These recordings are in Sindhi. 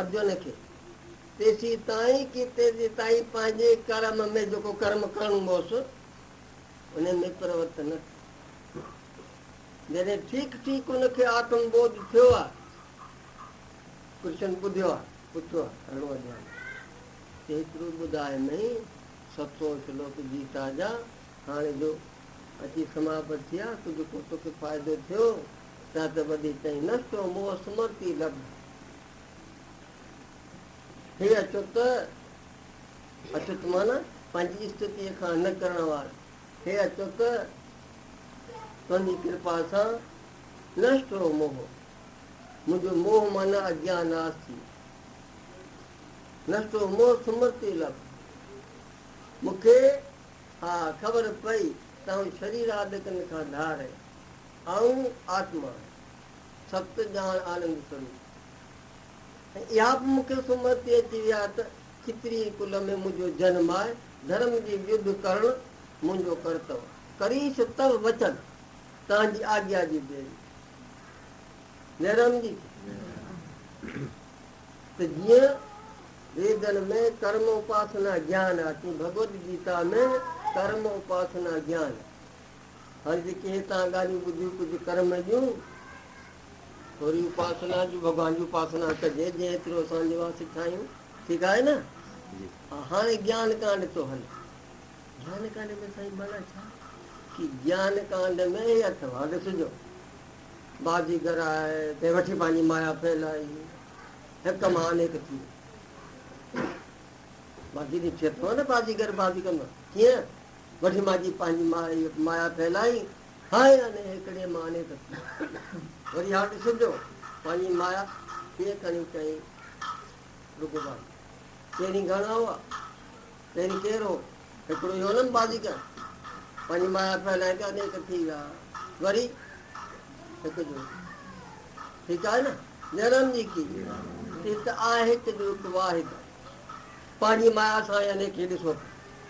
ارجن کي تيسي تائين ڪي تيسي تائين پنهنجي ڪرم ۾ جيڪو ڪرم ڪرڻو هوس ان ۾ پرورت نه ٿي جڏهن ٺيڪ ٺيڪ ان کي آتم ٻوڌ ٿيو آ ڪرشن ٻڌيو آ پڇيو آ اهڙو اڄاڻ ته هيترو ٻڌائي مئي ست سو شلوڪ گيتا جا هاڻي جو اچي سماپت ٿي آ ڪجهه ڪو توکي فائدو ٿيو داد ٻڌي چئي، نه ڇو مون هو سمرتي لب هي اڇوت، اڇوت معنيٰ پنهنجي استتيء کان نه ڪرڻ وار، هي اڇوت تنهنجي ڪرپا سان نشٽ هو موهه، منهنجو موهه معنيٰ اجيان ناس ٿي، نشٽ هو موهه سمرتي لب، مون کي ها خبر پئي ته آئون شرير آڏڪن کان ڌار، آئون آتما، ست ڄاڻ آنند سروپ. ۽ اها به مون کي سمرتي اچي وئي آهي ته کتري ڪل ۾ منهنجو جنم آهي، ڌرم جي ويڌ ڪرڻ منهنجو ڪرتو. ڪريس تئو وچن، تنهنجي آجيا جي بيري. جئرام جي ته جيئن ويدن ۾ ڪرم اپاسنا گيان آهي، تيئن ڀڳوت گيتا ۾ به ڪرم اپاسنا گيان آهي. هر جيڪي هتان ڳالهيون ٻڌيون ڪجهه ڪر ۾ ڏيون. ٿوري اپاسنا جي ڀڳوان جي اپاسنا ڪجي جنهن ايترو اسان جي واسطي ٺاهيون ٺيڪ آهي نه ها هاڻي گيان ڪانڊ ٿو هلي گيان ڪانڊ ۾ سائين مانا ڇا ڪي گيان ڪانڊ ۾ هي اٿو هاڳ سجو باجي گھر آئي تي وٺي پنهنجي مايا ڦيلائي هڪ مان انيڪ ٿي باجي ڏٺي اٿو نه باجي گھر باجي ڪندو ڪيئن وٺ مان جي پنهنجي مايا ڦهلائين هاء اني هيڪڙي مان اني ته ٿي وري هاء ڏسن جو پنهنجي مايا ڪيئن کڻي چئي رڳو بائي پهرين گهڻا هئا پهرين ڪير هو هيڪڙو هي هونم بازيگر پنهنجي مايا ڦهلائين ته اني ته ٿي ويا وري هڪ جو ٺيڪ آهي نه نيرام جي کي ته آهي ته جو هڪ واحد پنهنجي مايا سان اني کي ڏسو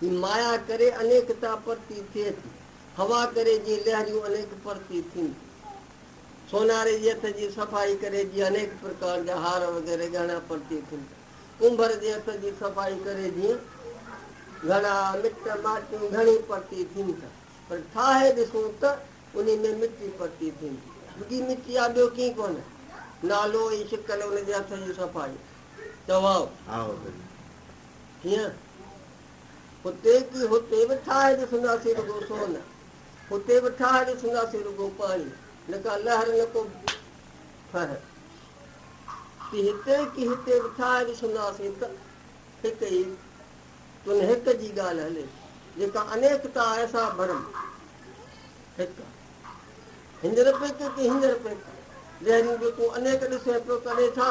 هي مايا ڪري انيڪتا پرتي ٿئي ٿي. هوا ڪري جي لهريون انيڪ پرتي ٿين ٿيون. سوناري جي هٿ جي صفائي ڪري جي انيڪ پرڪار جا هار وغيره ڳهڻا پرتي ٿين ٿا. ڪنڀر جي هٿ جي صفائي ڪري جيئن گهڻا مٽ ماٽيون گهڻي پرتي ٿين ٿا. پر ٺاهي ڏسون ته انهي ۾ مٽي پرتي ٿين ٿي. رڳي مٽي آ ٻيو ڪي ڪونه. نالو ۽ شڪل ان جي هٿ جي صفائي. چواو. ڪيئن؟ هتي ڪي هتي به ٺاهي ڏسنداسين رڳو سون، هتي به ٺاهي ڏسنداسين رڳو پاڻي، نه ڪا لهر نه ڪو ڦهه. ڪي هتي ڪي هتي به ٺاهي ڏسنداسين ته هڪ ئي تن هڪ جي ڳالهه هلي، جيڪا انيڪتا آهي سا ڀرم هڪ. هينجر پيڪ ڪي هينجر پيڪ، جهڙيون به تون انيڪ ڏسين پيو ڪڏهين ڇا؟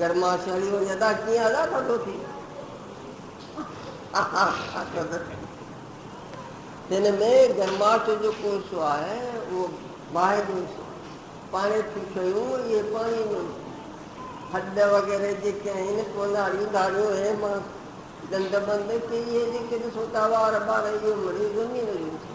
گرماسيء واري ادا ڪيئن ادا ٿا ٿو ٿي اها اها هن ۾ گرماسيء جو ڪو حصو آهي اهو باهه جو حصو پاڻي ٿي شيون اهي پاڻي جو هڏ وغيره جيڪي آهن ڪوناڙيون ڌاڙيون هي مان ڏند بند ڪي اهي جيڪي ڏسو ٿا وار ٻار اهو مڙي زمين جو حصو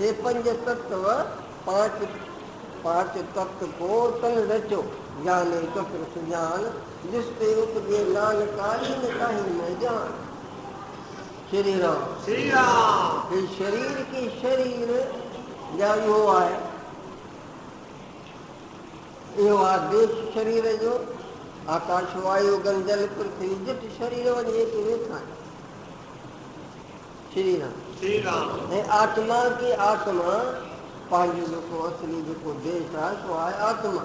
هي پنج تت و پانچ پانچ تت ڪو تن رچو، جاني چتر سجان، جس تي اپجي نانڪاڻي ۾ ڪاهي نه جان. شري رام. شري رام. هي شرير ڪي شرير جا اهو آهي. اهو آ ديش شرير جو، آڪاش وايو گن جل پرٿوي جٺ شرير وڃي اچي ويٺا آهن. شري رام شري رام ۽ آتما ڪي آتما پنهنجو جيڪو اصلي جيڪو ديس آهي سو آهي آتما.